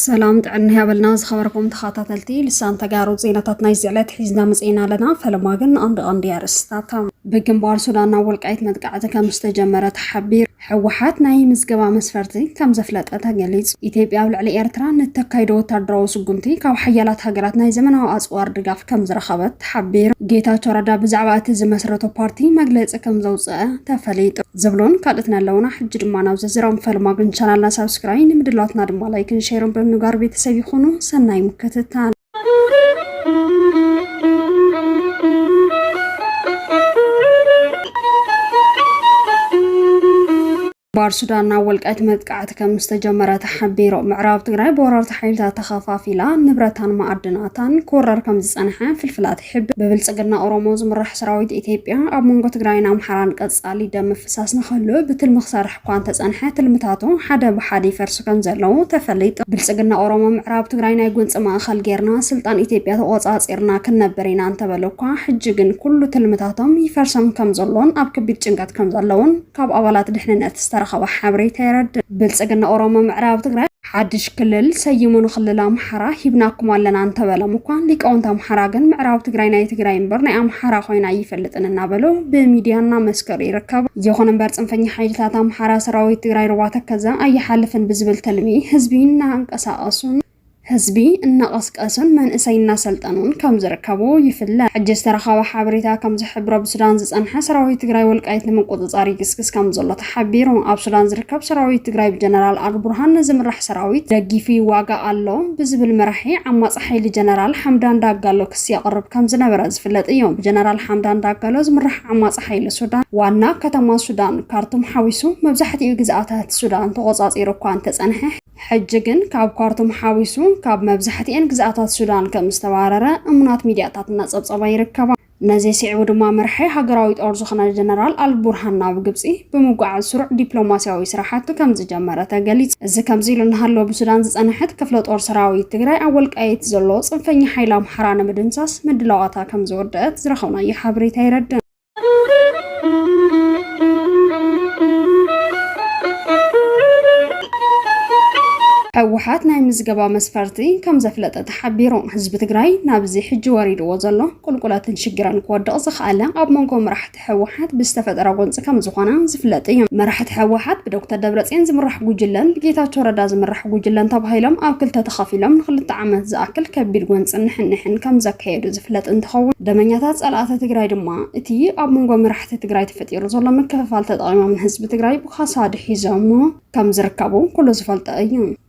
ሰላም ጥዕና ያበልና ዝኸበርኩም ተኸታተልቲ ልሳን ተጋሩ ዜናታት ናይ ዝዕለት ሒዝና መፅና ኣለና ፈለማ ግን ኣንድ ኣንድ ኣርእስታታ ብግንባር ሱዳን ናብ ወልቃይት መጥቃዕቲ ከም ዝተጀመረ ተሓቢሩ ሕወሓት ናይ ምዝገባ መስፈርቲ ከም ዘፍለጠ ተገሊጹ። ኢትዮጵያ ኣብ ልዕሊ ኤርትራ ንእተካይዶ ወታደራዊ ስጉምቲ ካብ ሓያላት ሃገራት ናይ ዘመናዊ ኣጽዋር ድጋፍ ከም ዝረኸበት ተሓቢሩ። ጌታቸው ረዳ ብዛዕባ እቲ ዝመስረቶ ፓርቲ መግለጺ ከም ዘውጽኣ ተፈሊጡ። ዝብሉን ካልእትን ኣለውና ሕጂ ድማ ናብ ዝርዝሮም። ፈልማግን ቻናልና ሳብስክራይ ንምድላትና ድማ ላይክን ሼርን ብምግባር ቤተሰብ ይኹኑ። ሰናይ ምክትታል። ባር ሱዳን ናብ ወልቃይት መጥቃዕቲ ከም ዝተጀመረ ተሓቢሩ ምዕራብ ትግራይ ብወረርቲ ሓይልታት ተኸፋፊላ ንብረታን ማዕድናታን ክወረር ከም ዝፀንሐ ፍልፍላት ይሕብር ብብልፅግና ኦሮሞ ዝምራሕ ሰራዊት ኢትዮጵያ ኣብ መንጎ ትግራይን ኣምሓራን ቀፃሊ ደም ምፍሳስ ንኸሉ ብትልሚ ክሰርሕ እኳ እንተጸንሐ ትልምታቱ ሓደ ብሓደ ይፈርሱ ከምዘለዉ ተፈሊጡ። ብልጽግና ኦሮሞ ምዕራብ ትግራይ ናይ ጎንጺ ማእኸል ጌርና ስልጣን ኢትዮጵያ ተቖጻጺርና ክንነብር ኢና እንተበሉ እኳ ሕጂ ግን ኩሉ ትልምታቶም ይፈርሶም ከምዘሎን ኣብ ከቢድ ጭንቀት ከምዘለዉን ካብ ኣባላት ድሕንነት ዝተረኸበ ሓበሬታ የረድእ። ብልጽግና ኦሮሞ ምዕራብ ትግራይ። ሓድሽ ክልል ሰይሙ ንክልል ኣምሓራ ሂብናኩም ኣለና እንተበሎም እኳ ሊቃውንቲ ኣምሓራ ግን ምዕራብ ትግራይ ናይ ትግራይ እምበር ናይ ኣምሓራ ኮይና ኣይፈልጥን እናበሉ ብሚድያ እናመስከሩ ይርከቡ። ይኹን እምበር ፅንፈኛ ሓይልታት ኣምሓራ ሰራዊት ትግራይ ሩባ ተከዘ ኣይሓልፍን ብዝብል ትልሚ ህዝቢ እናንቀሳቀሱን ህዝቢ እናቐስቀሱን መንእሰይ እናሰልጠኑን ከም ዝርከቡ ይፍለጥ። ሕጂ ዝተረኸበ ሓበሬታ ከም ዝሕብሮ ብሱዳን ዝፀንሐ ሰራዊት ትግራይ ወልቃይት ንምቁፅፃር ይግስግስ ከም ዘሎ ሓቢሩ። ኣብ ሱዳን ዝርከብ ሰራዊት ትግራይ ብጀነራል ኣልቡርሃን ዝምራሕ ሰራዊት ደጊፉ ይዋጋእ ኣሎ ብዝብል መራሒ ዓማጺ ሓይሊ ጀነራል ሓምዳን ዳጋሎ ክሲ የቕርብ ከምዝነበረ ዝፍለጥ እዩ። ብጀነራል ሓምዳን ዳጋሎ ዝምራሕ ዓማጺ ሓይሊ ሱዳን ዋና ከተማ ሱዳን ካርቱም ሓዊሱ መብዛሕቲኡ ግዝኣታት ሱዳን ተቖጻጺሩ እኳ እንተጸንሐ፣ ሕጂ ግን ካብ ካርቱም ሓዊሱ ካብ መብዛሕቲኤን ግዝኣታት ሱዳን ከምዝተባረረ እሙናት ሚድያታት እናጸብጸባ ይርከባ። ነዚ ስዒቡ ድማ መራሒ ሃገራዊ ጦር ዝኾነ ጀነራል ኣልቡርሃን ናብ ግብጺ ብምጉዓዝ ስሩዕ ዲፕሎማስያዊ ስራሕቲ ከምዝጀመረ ተገሊጹ። እዚ ከምዚ ኢሉ እናሃለወ ብሱዳን ዝጸንሐት ክፍለ ጦር ሰራዊት ትግራይ ኣብ ወልቃይት ዘሎ ጽንፈኛ ሓይሊ ኣምሓራ ንምድምሳስ ምድላዋታ ከምዝወደኣት ዝረኸብናዮ ሓበሬታ የረድእ። ህወሓት ናይ ምዝገባ መስፈርቲ ከምዘፍለጠት ሓቢሮም። ህዝቢ ትግራይ ናብዚ ሕጂ ወሪድዎ ዘሎ ቁልቁለትን ሽግርን ክወድቕ ዝኸኣለ ኣብ መንጎ መራሕቲ ህወሓት ብዝተፈጠረ ጎንፂ ከምዝኾነ ዝፍለጥ እዩ። መራሕቲ ህወሓት ብዶክተር ደብረፅዮን ዝምራሕ ጉጅለን ብጌታቸው ረዳ ዝምራሕ ጉጅለን ተባሂሎም ኣብ ክልተ ተኸፊሎም ንክልተ ዓመት ዝኣክል ከቢድ ጎንፅን ንሕንሕን ከምዘካየዱ ዝፍለጥ እንትኸውን ደመኛታት ፀላእቲ ትግራይ ድማ እቲ ኣብ መንጎ መራሕቲ ትግራይ ተፈጢሩ ዘሎ ምክፍፋል ተጠቒሞም ንህዝቢ ትግራይ ብኻሳ ኣድሒዞምዎ ከምዝርከቡ ኩሉ ዝፈልጦ እዩ።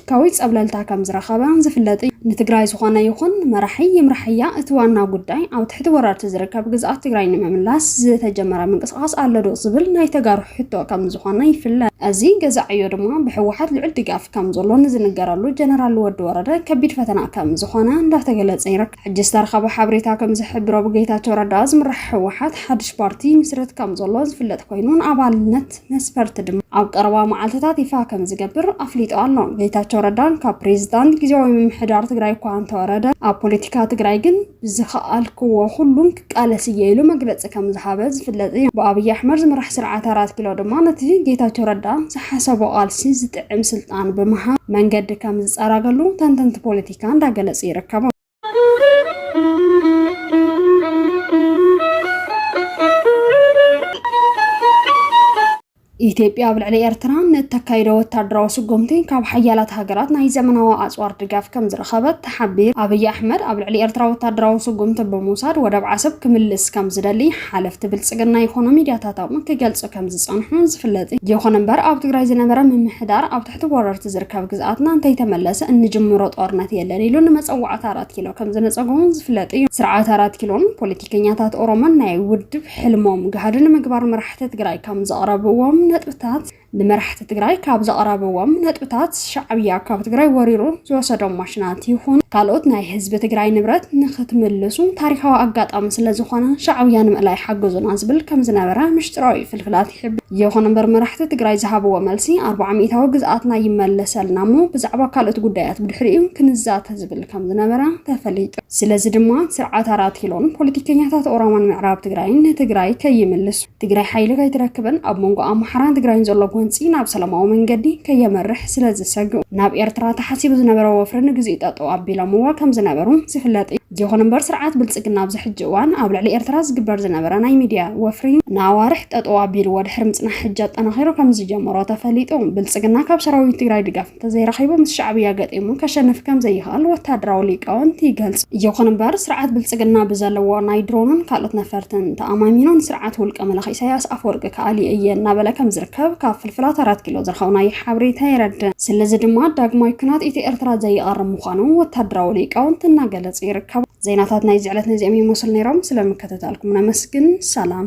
ፖለቲካዊ ፀብለልታ ከም ዝረኸበ ዝፍለጥ እዩ። ንትግራይ ዝኾነ ይኹን መራሒ ይምራሕያ እቲ ዋና ጉዳይ ኣብ ትሕቲ ወረርቲ ዝርከብ ግዝኣት ትግራይ ንምምላስ ዝተጀመረ ምንቅስቓስ ኣሎ ዶ ዝብል ናይ ተጋሩ ሕቶ ከም ዝኾነ ይፍለጥ። እዚ ገዛእ ዕዮ ድማ ብህወሓት ልዑል ድጋፍ ከም ዘሎ ንዝንገረሉ ጀነራል ወዲ ወረደ ከቢድ ፈተና ከም ዝኾነ እንዳተገለፀ ይርከብ። ሕጂ ዝተረኸበ ሓበሬታ ከም ዝሕብሮ ብጌታቸው ረዳ ዝምራሕ ህወሓት ሓድሽ ፓርቲ ይምስርት ከም ዘሎ ዝፍለጥ ኮይኑ ንኣባልነት መስፈርት ድማ ኣብ ቀረባ መዓልትታት ይፋ ከም ዝገብር ኣፍሊጡ ኣሎ። ጌታቸው ረዳን ካብ ፕሬዚዳንት ግዜያዊ ምምሕዳር ትግራይ እኳ እንተወረደ ኣብ ፖለቲካ ትግራይ ግን ብዝኸኣልክዎ ኩሉን ክቃለስ እየ ኢሉ መግለፂ ከም ዝሃበ ዝፍለጥ እዩ። ብኣብይ ኣሕመድ ዝምራሕ ስርዓት ኣራት ኪሎ ድማ ነቲ ጌታቸው ረዳ ዝሓሰቦ ቃልሲ ዝጥዕም ስልጣን ብምሃብ መንገዲ ከም ዝፀራገሉ ተንተንቲ ፖለቲካ እንዳገለፁ ይርከቡ። ኢትዮጵያ ኣብ ልዕሊ ኤርትራ ንእተካይዶ ወታደራዊ ስጉምቲ ካብ ሓያላት ሃገራት ናይ ዘመናዊ ኣጽዋር ድጋፍ ከም ዝረኸበት ተሓቢሩ። ኣብይ ኣሕመድ ኣብ ልዕሊ ኤርትራ ወታደራዊ ስጉምቲ ብምውሳድ ወደብ ዓሰብ ክምልስ ከም ዝደሊ ሓለፍቲ ብልጽግና ይኾኑ ሚድያታቶም ክገልጹ ከም ዝጸንሑ ዝፍለጥ እዩ። ይኹን እምበር ኣብ ትግራይ ዝነበረ ምምሕዳር ኣብ ትሕቲ ወረርቲ ዝርከብ ግዝኣትና እንተይተመለሰ እንጅምሮ ጦርነት የለን ኢሉ ንመፀዋዕታ ኣራት ኪሎ ከም ዝነፀጎ እውን ዝፍለጥ እዩ። ስርዓት ኣራት ኪሎን ፖለቲከኛታት ኦሮሞን ናይ ውድብ ሕልሞም ጋህዲ ንምግባር መራሕቲ ትግራይ ካብ ዘቕረብዎም ነጥብታት ንመራሕቲ ትግራይ ካብ ዘቕረብዎም ነጥብታት ሻዕብያ ካብ ትግራይ ወሪሩ ዝወሰዶም ማሽናት ይኹን ካልኦት ናይ ህዝቢ ትግራይ ንብረት ንክትምልሱ ታሪኻዊ ኣጋጣሚ ስለዝኾነ ሻዕብያ ንምእላይ ሓግዙና ዝብል ከም ዝነበረ ምሽጢራዊ ፍልፍላት ክብል ይኹን እምበር መራሕቲ ትግራይ ዝሃብዎ መልሲ ኣርብዓ ሚእታዊ ግዝኣትና ይመለሰልና እሞ ብዛዕባ ካልኦት ጉዳያት ብድሕሪኡ ክንዛተ ዝብል ከም ዝነበረ ተፈሊጡ። ስለዚ ድማ ስርዓት ኣራት ኪሎን ፖለቲከኛታት ኦሮሞን ምዕራብ ትግራይን ንትግራይ ከይምልሱ፣ ትግራይ ሓይሊ ከይትረክብን ኣብ መንጎ ኣምሓራን ትግራይን ዘሎ ጎንፂ ናብ ሰላማዊ መንገዲ ከየምርሕ ስለዝሰግኡ ናብ ኤርትራ ተሓሲቡ ዝነበረ ወፍሪ ንግዚኡ ጠጠው ኣቢሎምዎ ከም ዝነበሩ ዝፍለጥ እዩ። ይኹን እምበር ስርዓት ብልፅግና ኣብዚ ሕጂ እዋን ኣብ ልዕሊ ኤርትራ ዝግበር ዝነበረ ናይ ሚድያ ወፍሪ ንኣዋርሕ ጠጠው ኣቢልዎ ድሕሪ ምፅናሕ ሕጂ ኣጠናኺሩ ከምዝጀመሮ ተፈሊጡ። ብልፅግና ካብ ሰራዊት ትግራይ ድጋፍ እንተዘይረኺቡ ምስ ሻዕብያ ገጢሙ ከሸንፍ ከምዘይኽእል ወታደራዊ ሊቃውንቲ ይገልፁ። ይኹን እምበር ስርዓት ብልፅግና ብዘለዎ ናይ ድሮንን ካልኦት ነፈርትን ተኣማሚኑ ንስርዓት ውልቀ መላኺ ኢሳያስ ኣፈወርቂ ከኣልየ እየ እናበለ ከምዝርከብ ከብ ካብ ፍልፍላት ኣራት ኪሎ ዝረኸብናዮ ሓበሬታ የረድእ። ስለዚ ድማ ዳግማይ ኩናት ኢትዮ-ኤርትራ ዘይቐርብ ምዃኑ ወታደራዊ ሊቃውንቲ እናገለጹ ይርከቡ። ዜናታት ናይዚ ዕለት ነዚኦም ይመስሉ ነይሮም። ስለ ምክትታልኩም ነመስግን። ሰላም።